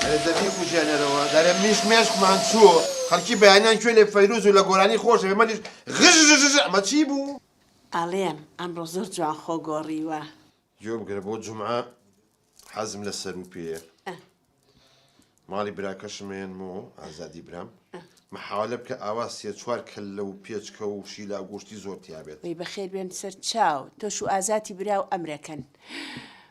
ئەرێ دە بیکوژێنەرەوە دەرێ میش مێشکمان چوو خەلکی بەیانیان کوێ لێ فەیروز و لە گۆرانی خۆش ئێمە لیش غژژژ ئەمە چی بوو؟ ئەڵێم ئەمڕۆ زۆر جوان خۆ گۆڕیوە. گوێ بگرە بۆ جومعە حەزم لە سەروو پێیە. ماڵی براکەشم مەیەنمەوە ئازادی برام محاولە بکە ئاوا سێ چوار کەللە و پێچکە و شیلا گۆشتی زۆر تیابێت وەی بەخێر بێن سەر چاو تۆش و ئازاتی برا و ئەمرەکەن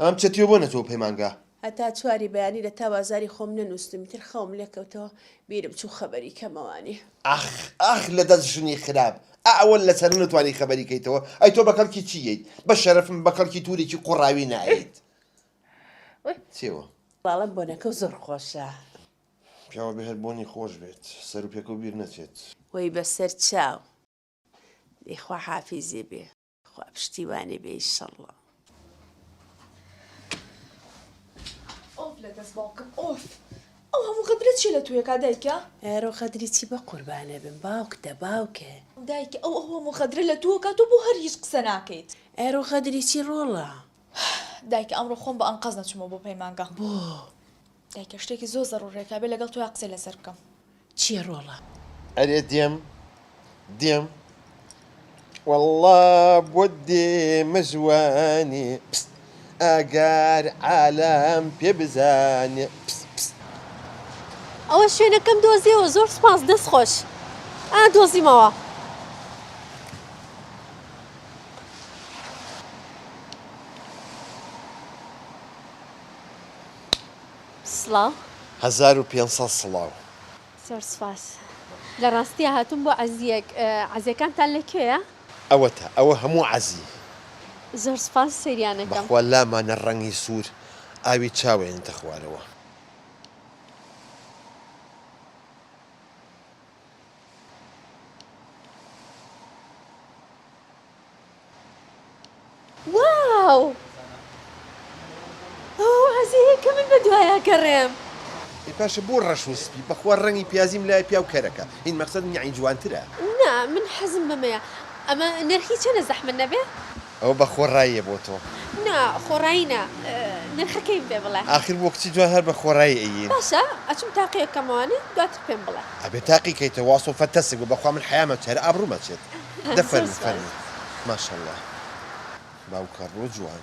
ئەم چەتیۆ بۆ نەچوە پەیمانگا. هەتا چواری بەیانی لە تاو ئازاری خۆم نەنوستم ئیتر خەوم لێکەوتەوە بیرم چوو خەبەری کەمەوانی. ئاخ ئاخ لە دەست ژنی خراپ ئا ئەوە لە سەر نەتوانی خەبەری کەیتەوە ئەی تۆ بە کەڵکی چی یەیت بە شەرەفم بە کەڵکی تورێکی قوڕاوی نایەیت چیوە. بەڵام بۆنەکەو زۆر خۆشە. پیاوە بێ هەر بۆنی خۆش بێت سەرو پێکەو بیر نەچێت. وەی بەسەر چاو دەی خواحافیزی بی. خوا پشتیوانی بێ ئیشەڵڵا. ئۆف لە دەست باوکم ئۆف ئەو هەموو غەدرە چیە لە توێکا دایکە؟ ئەرۆ غەدری چی بە قوربانە بم باوک دە باوکە. دایکە ئەو هەموو غەدرە لە توۆکا تۆ بۆ هەر هیچ قسە ناکەیت. ئەرۆ غەدری چی ڕۆڵە. دایکە ئەمڕۆ خۆم بە ئەنقەست نەچوومە بۆ پەیمانگا. بۆ؟ دایکە شتێکی زۆر زەڕوڕێکە ئەبێ لەگەڵ تۆیا قسەی لەسەر بکەم. چیە ڕۆڵە؟ ئەرێ دێم دێم وەڵڵا بۆت دێمە ژوانێ پست ئاگار عالەم پێ بزانێ پست پست. ئەوە شوێنەکەم دۆزیەوە زۆر سوپاس دەست خۆش ئا دۆزیمەوە. سڵاو. هەزار و پێنج سەد سڵاو. زۆر سوپاس. لە ڕاستیا هاتووم بۆ عەزییەک. عەزییەکانتان لە کوێیە؟ ئەوەتە، ئەوە هەموو عەزی. زۆر سوپاس، سەیریان ئەکەم. بەخوا لامانە ڕەنگی سوور ئاوی چاوێنتە خوارەوە. واو ئەوە وازەیە کە من بە دوایا گەڕێم. ئێ پاشە بۆ ڕەش و سپی؟ بەخوا ڕەنگی پیازیم لایە پیاو کەرەکە هین مەقسەد نیعی جوانترە. نا من حەزم بەمەیە. ئەمە نرخی چەنە زەحمەت نەبێ؟ ئەوە بە خۆڕاییە بۆ تۆ؟ نا خۆڕایی نا نرخەکەیم پێ بڵێ. ئاخر بۆ کچی جوان هەر بە خۆڕایی ئەیین. باشە ئەچم تاقی ئەکەمەوانە دواتر پێم بڵێ. ئەبێ تاقی کەیتەوە واسۆ فە تەسک بە بەخوا من حەیام ئەچێ هەر ئابڕووم ئەچێت دە فەرموو فەرموو ماشااللە باوکە ڕۆ جوان.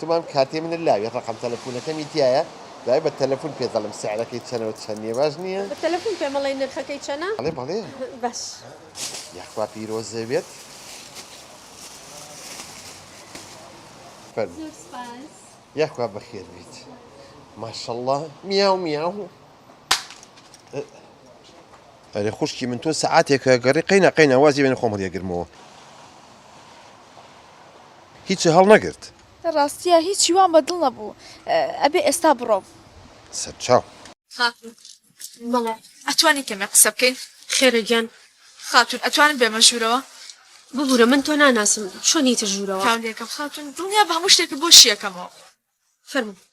تمام کارتی منت لاوی ڕەقەم تەلەفونەکەمی تیایە دوای بە تەلەفون پێت دەڵێم سعرەکەی چەنە و چەن نیە باش نیە؟ بە تەلەفون پێمەڵێ نرخەکەی چەنە؟ بەڵێ بەڵێ باش. یاخوا پیرۆزێ بێت فەرموو. زۆر سوپاس. یاخوا بەخێر بیت ماشەڵا میاو میاو. ئەرێ خوشکی من تۆ سەعاتێکە گەڕی قەینا قەینا وازی بێنە خۆم هەڵیەگرمەوە. هیچی هەڵنەگرت. ڕاستیە هیچی وام بە دڵ نەبوو ئەبێ ئێستا بڕۆم. سەرچاو. خاتون، بەڵێ ئەتوانین کەمێک قسە بکەین. خێرە گیان. خاتون، ئەتوانم بێمە ژوورەوە؟ ببورە من تۆ ناناسم چۆن یتە ژوورەوە. تاولیەکەم خاتون، دڵنیابە هەموو شتێکت بۆ شیەکەمەوە. فەرموو.